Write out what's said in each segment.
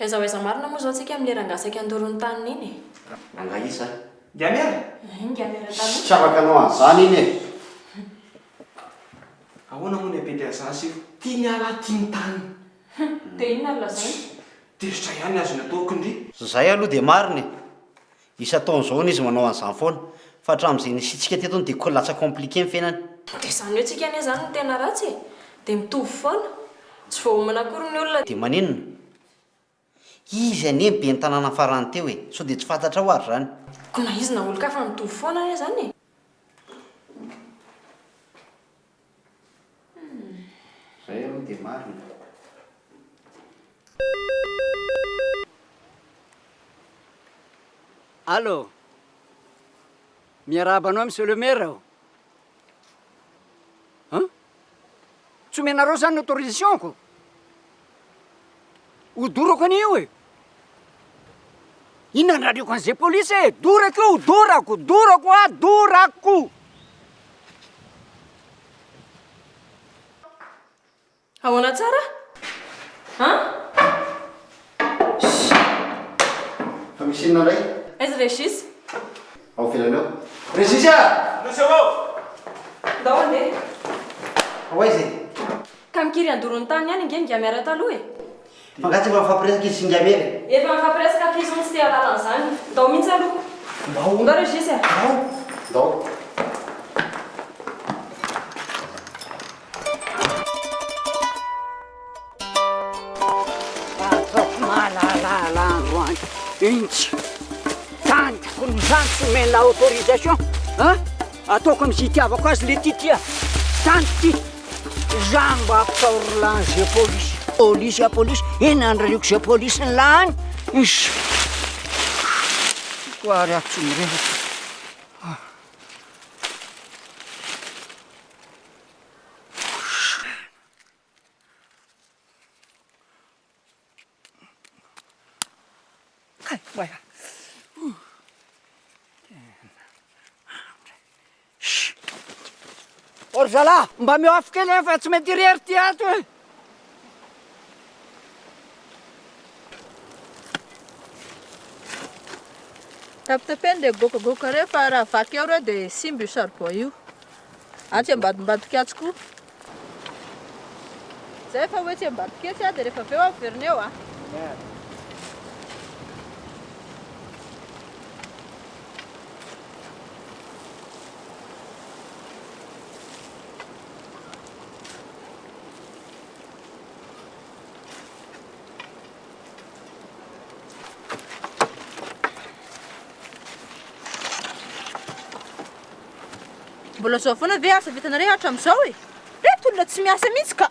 Aiza ho aiza marina moa izao tsika amin'ilay rangahy saika handoro ny taniny iny e? Rangahy iza? Ngiamera? Ehe, Ngiamera taloha. Tsy afaka hanao an'izany iny e! Ahoana moa ny Apeteazasy io? Tiany hiala aty ny taniny. Hum, dia inona no lazainy? Tezitra ihany azony atao kndry. Zay aloha dia marina e! Isan-taona izao hono izy manao an'izany foana. Fa hatramin'izay nisiantsika teto hono dia ko lasa compliqué ny fiainany. Dia izany hoe tsika anie izany no tena ratsy e! Dia mitovy foana. Tsy voaomana akory ny olona. Dia maninona? Izy anie ny ben'ny tanàna farany teo e! Sao dia tsy fantatrao ary izany? Ko na izy na olon-kafa mitovy foana anie izany e! Zay aloha dia marina. Allo! Miarahaba anao Monsieur le Maire ô! An? Tsy omenareo zany ny autorisation-ko? Ho dorako anie io e! Inona ny raleko an'izay polisy e! Dorako io, dorako, dorako a, dorako! Ahoana tsara? An? Shh! Fa misy inona indray? Aiza Régis? Ao ivelany ao. Régis a! Nosy ao ao! Ndao handeha. Ho aiza e? Ka mikiry handoro ny taniny any ange ny Gamera taloha e! Mangatsy efa mifampiresaka izy sy ny Gamera e! Efa mifampiresaka f'izy hono tsy te hahalala an'izany. Ndao mihitsy aloha. Ndao. Ndao Régis a! Ndao. Ndao. Intsy! Tanjoko ny zandriko omena autorisation a! Ataoko am ze itiavako azy le ty tia Tany ty Za mba ampitaoro lany ze polisy Polisy a polisy Eny andrariako ze polisy ny lany Ish Ko ary aho tsy mirehatra Ry zalahy, mba ameo afo kely e, fa tsy mety irery ity ato e. Tapitapeno dia goakagoaka ireo fa raha vaky eo ireo dia simba io saribao io. Atsy ambadimbadik'atsy koa. Zay fa hoe tsy ambadik'etsy a, dia rehefa avy eo averina eo a. Mbola zao foana ve asa vitanareo hatramin'izao e? Reto olona tsy miasa mihitsy ka!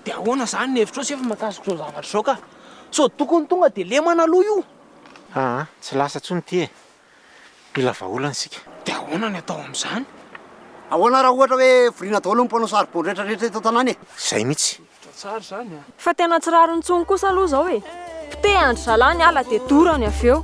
Dia ahoana izany ny hevitrao sefo mahakasika izao zavatra izao ka? Sao tokony tonga dia lemana aloha io? Aa, tsy lasa intsony ity e! mpila vahaolana isika. Dia ahoana ny atao amin'izany? Ahoana raha ohatra hoe voriana daholo ny mpanao saribao rehetra rehetra eto an-tanàna e? Izay mihitsy. Hevitra tsara izany an! Fa tena tsy rariny intsony kosa aloha izao e! Poteha an-dry zalahy ny ala dia dorany avy eo!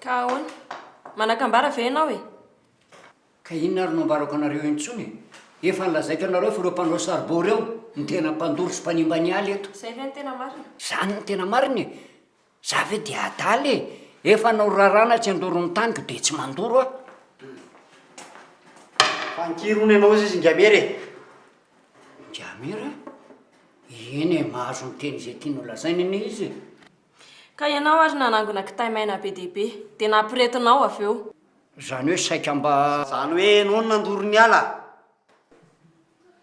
Ka ahoana? Manakambara ve ianao e? Ka inona ary no ambarako anareo intsony e? Efa nolazaiko anareo fa ireo mpanao saribao ireo no tena mpandoro sy mpanimba ny ala eto. Izay ve no tena marina? Izany no tena marina e! Za ve dia adala e! Efa norarana tsy handoro ny taniko dia tsy mandoro aho. Fa ankiry hono ianao izy Ingamera e! Ingamera? Eny e, mahazo miteny izay tiany ho lazainy anie izy e! Ka ianao ary nanangona kitay maina be dia be, dia nampirehetinao avy eo. Izany hoe saika mba. Izany hoe ianao no nandoro ny ala.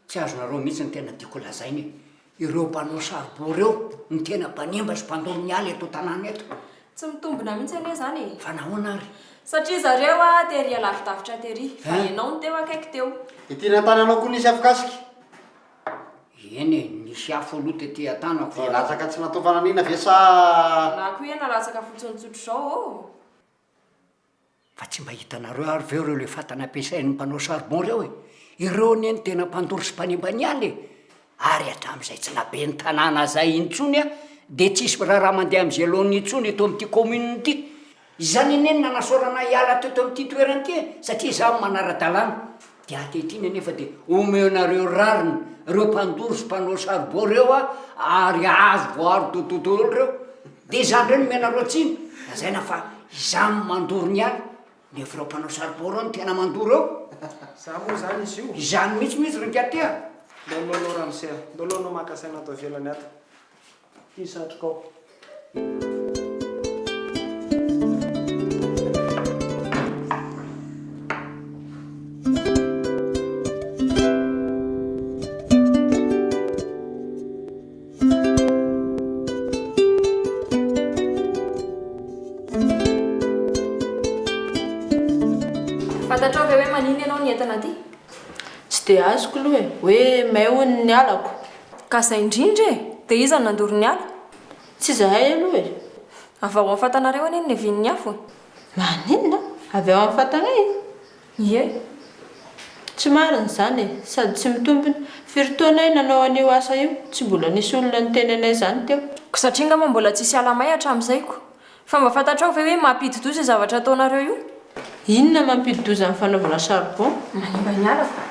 Tsy azonareo mihitsy ny tena tiako lazaina e! Ireo mpanao saribao ireo no tena mpanimba sy mpandoro ny ala eto an-tanàna eto. Tsy mitombina mihitsy anie izany e! Fa nahoana ary? Satria zareo tery alavidavitra tery, fa ianao no teo akaiky teo. Ity an-tananao koa nisy afokasika? Eny e, nisy afo aloha tety an-tanako fa. Dia latsaka tsy natao fananihina ve sa. Na koa iha nalatsaka fotsiny tsotr'izao ô? Fa tsy mba hitanareo ary ve ireo le fatana ampiasain'ny mpanao charbon ireo e? Ireo anie no tena mpandoro sy mpanimba ny ala e! Ary hatramin'izay tsy naben'ny tanàna izay intsony aho dia tsy hisy miraharaha mandeha amin'ny gelone intsony eto amin'ity commune ity. Izany anie no nanasorana ahy hiala teto amin'ity toerana ity e, satria izaho manara-dalàna. Dia ankehitriny anefa dia omeonareo rariny ireo mpandoro sy mpanao saribao ireo a, ary azo voaaro dodo daholo ireo. Dia izany indray no omenareo tsiny, lazaina fa izaho no mandoro ny ahy, nefa ireo mpanao saribao ireo no tena mandoro eo. Za moa zany izy io. Izany mihitsy mihitsy ry Ngiaty a! Ndao aloha anao ramose a! Ndao aloha anao maka saina ato ivelany ato. ity satrokao. Fantatrao ve hoe maninona ianao ny entana aty? Tsy dia azoko aloha e, hoe may hono ny halako. Ka zay indrindra e! Dia iza no nandoro ny afo? Tsy izahay aloha e! Avy ao amin'ny fatanareo anie ny niavian'ny afo e! Maninona? Avy ao amin'ny fatanay? Ie! Tsy marina izany e! Sady tsy mitombina! Firy taona aho nanao an'io asa io, tsy mbola nisy olona niteny anay izany teo. Koa satria angamba mbola tsisy ala may hatramin'izay koa Fa mba fantatrao ve hoe mampidi-doza io zavatra ataonareo io? Inona mampidi-doza amin'ny fanaovana charbon? Manimba ny ala fa.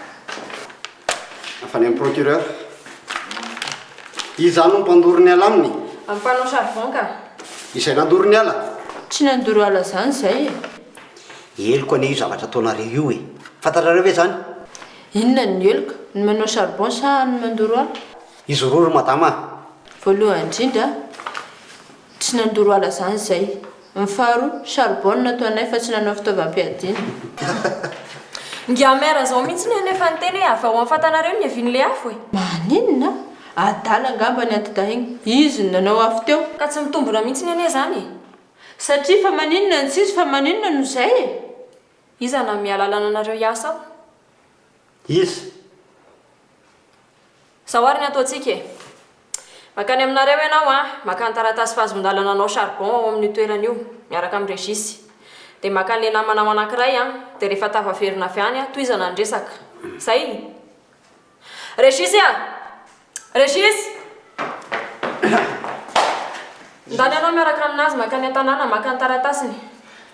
Avy any amin'ny procureur. Iza no mpandoro ny ala aminy? Amin'ny mpanao charbon ka. Izay nandoro ny ala? Tsy nandoro ala izany izay e. Heloka anie io zavatra ataonareo io e. Fantatrareo ve izany? Inona no heloka? Ny manao charbon sa ny mandoro ala? Izy roa ry madama a! Voalohany indrindra, Tsy nandoro ala zany zay. Ny faharoa, charbon no nataonay fa tsy nanao fitaovam-piadiana. Ingahy Maire zao mihitsy ny efa niteny hoe avy ao amin'ny fantanareo ny hevin'ilay afo e! Maninona? Adala angamba ny anti-dahiny. Izy no nanao afo teo. Ka tsy mitombona mihitsy ny anie zany e! Satria fa maninona no tsisy fa maninona no zay e! Iza nanome alalana anareo hiasa ao? Iza? Zao ary ny ataontsika e! Mankany aminareo ianao an! Maka ny taratasy fahazoan-dalana anao charbon ao amin'io toerana io, miaraka amin'i Régis. Dia maka an'ilay namanao anankiray an! Dia rehefa tafaverina avy any an, tohizana ny resaka. Zay! Régis a! Régis! Ndany ianao miaraka amin'azy mankany an-tanàna maka ny taratasiny.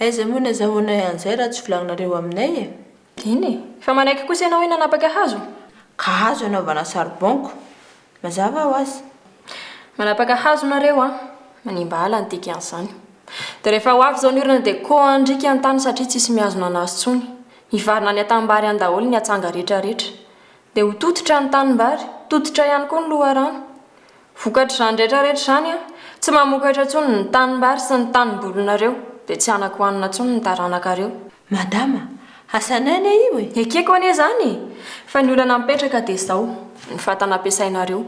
Aiza moa ny azahoanay an'izay raha tsy volagninareo aminay e? Eny e! Fa manaiky kosa ianao hoe nanapaka hazo? Ka hazo anaovana saribonko. Mazava ho azy. Manapaka hazo nareo an! Manimba ala ny dikan'izany. Dia rehefa ho avy izao ny orana dia koa handriaka ny tany satria tsisy mihazona anazy tsony. Hivarina any an-tanimbary any daholo ny atsanga rehetra rehetra. Dia ho tototra ny tanimbary, tototra ihany koa ny loharano. Vokatr'izany rehetra rehetra izany Aho tsy mamokatra intsony ny tanimbary sy ny tanimbolinareo, dia tsy hanako hanina intsony ny taranakareo. Madama, hasan'aina io e! Ekeko anie izany e! Fa ny olana mipetraka dia izao, ny fatana ampiasainareo.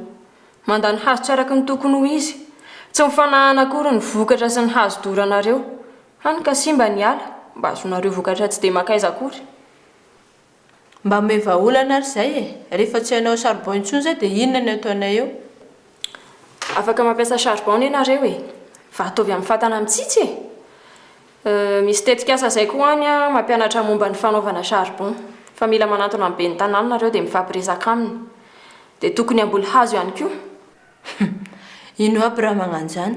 Manda ny hazo tsy araka ny tokony ho izy. Tsy mifanahana akory ny vokatra sy ny hazo doranareo. Hany ka simba ny ala, mba azonareo vokatra tsy dia makaiza akory. Mba ome vahaolana ary zay e! Rehefa tsy hanao charbon intsony zay dia inona ny ataonay eo? Afaka mampiasa charbon anie nareo e! Fa ataovy amin'ny fatana mitsitsy e! Euh, misy tetikasa zay koa any an, mampianatra momba ny fanaovana charbon. Fa mila manantona ny ben'ny tanàna nareo dia mifampiresaka aminy. Dia tokony hamboly hazo ihany koa. Hum, ino aby raha magnano izany?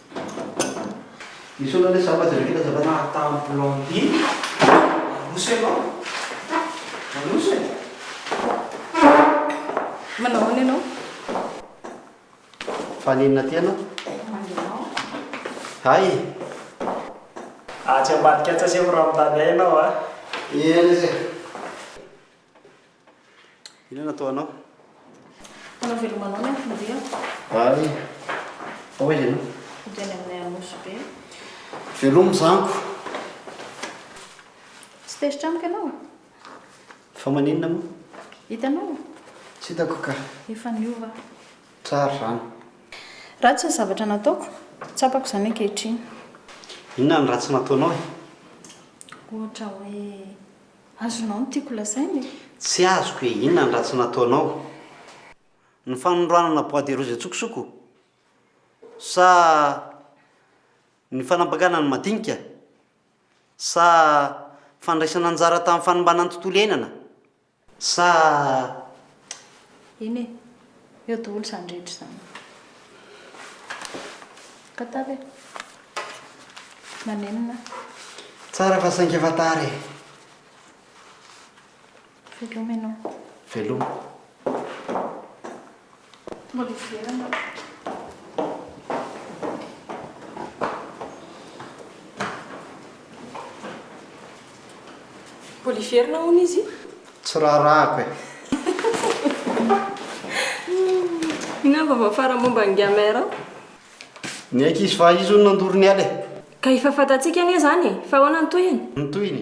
Misy olona le zava drehetra tazavana ataony blondine manoso ianao manoso e. Manao ahoana ianao? Faninona aty ianao? Hay e. Atsy ambadika atsy asehoko raha mitady ahy ianao a. Eny ase. Inona no ataonao? Mpanao veloma anao ny anton-diako. Ary fa hoy ianao? Hody any aminay Anosy Be. Veloma zanko! Tsy tezitra amiko ianao? Fa maninona moa? Hitanao? Tsy hitako ka. Efa niova aho. Tsara izany. Ratsy ny zavatra nataoko. Tsapako izany ankehitriny. Inona no ratsy nataonao e? Ohatra hoe. Azonao ny tiako lazaina e. Tsy azoko e, inona ny ratsy nataonao? Ny fanondranana bois de rose antsokosoko? Sa ny fanampakana ny madinika? Sa fandraisana anjara tamin'ny fanimbana ny tontolo iainana? Sa. Eny e, eo daholo izany rehetra izany. Ka tara e. Manenina. Tsara fa saingy efa tara e. Veloma ianao. Veloma. Mbola ivelany aho. Mbola hiverina hono izy? Tsy raharahako e! Inona ny vaovao farany momba an'i Gamer an? Niaiky izy fa izy hono nandoro ny ala e! Ka efa fantatsika anie izany e! Fa ahoana ny tohiny? Ny tohiny?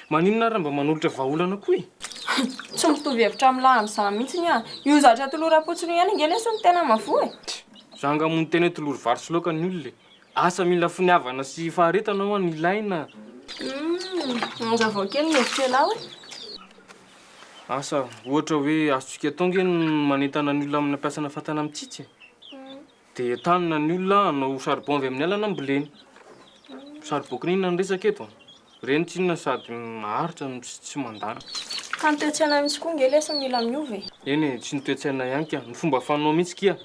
Maninona ary raha mba manolotra vahaolana koa e? Tsy mitovy hevitra amin'ny lahy amin'izany mihitsy ny ahy. Io zatra tolory am-potsiny io ihany ange lesy no tena mahavoa e! Tch! Za angaha moa no tena hoe tolory vary sy laoka ny olona e! Asa mila finiavana sy faharetana ho'a no ilaina a! Humm! Manazavao kely ny hevitr'elah hoe? Asa, ohatra hoe azontsika atao ange ny manentana ny olona hampiasana fatana mitsitsy e? Humm! Dia entanina ny olona hanao saribao avy amin'ny alana ambolena. Saribao kininina no resaka eto an. Ireny tsinona sady maharitra no tsy mandana. Ka ny toe-tsaina mihitsy koa nge lesy no mila miova e. Eny e, tsy ny toe-tsaina ihany ka, ny fomba fanao mihitsy kia.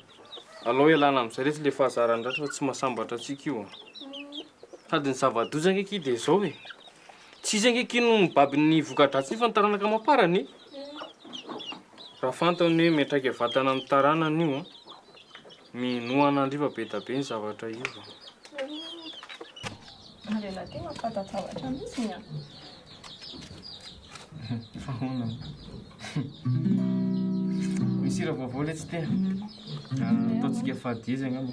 Alao ialana amin'izay lesy ilay fahazaran'ny ratra fa tsy mahasambatra antsika io an. Sady ny zava-doza ange kia dia izao e, Tsy izy ange akia no mibaby ny voka-dratsiny fa ny taranaka amam-parany e! Raha fantany hoe miantraika vatana amin'ny taranany io, minoa an'Andriva be dia be ny zavatra iova. Ny lehilahy aty mampifantazavatra mihitsy ny an! Fa ahoana moa? Misy hira vaovao ilay tsy te an! Ataontsika fadihaiza angamba.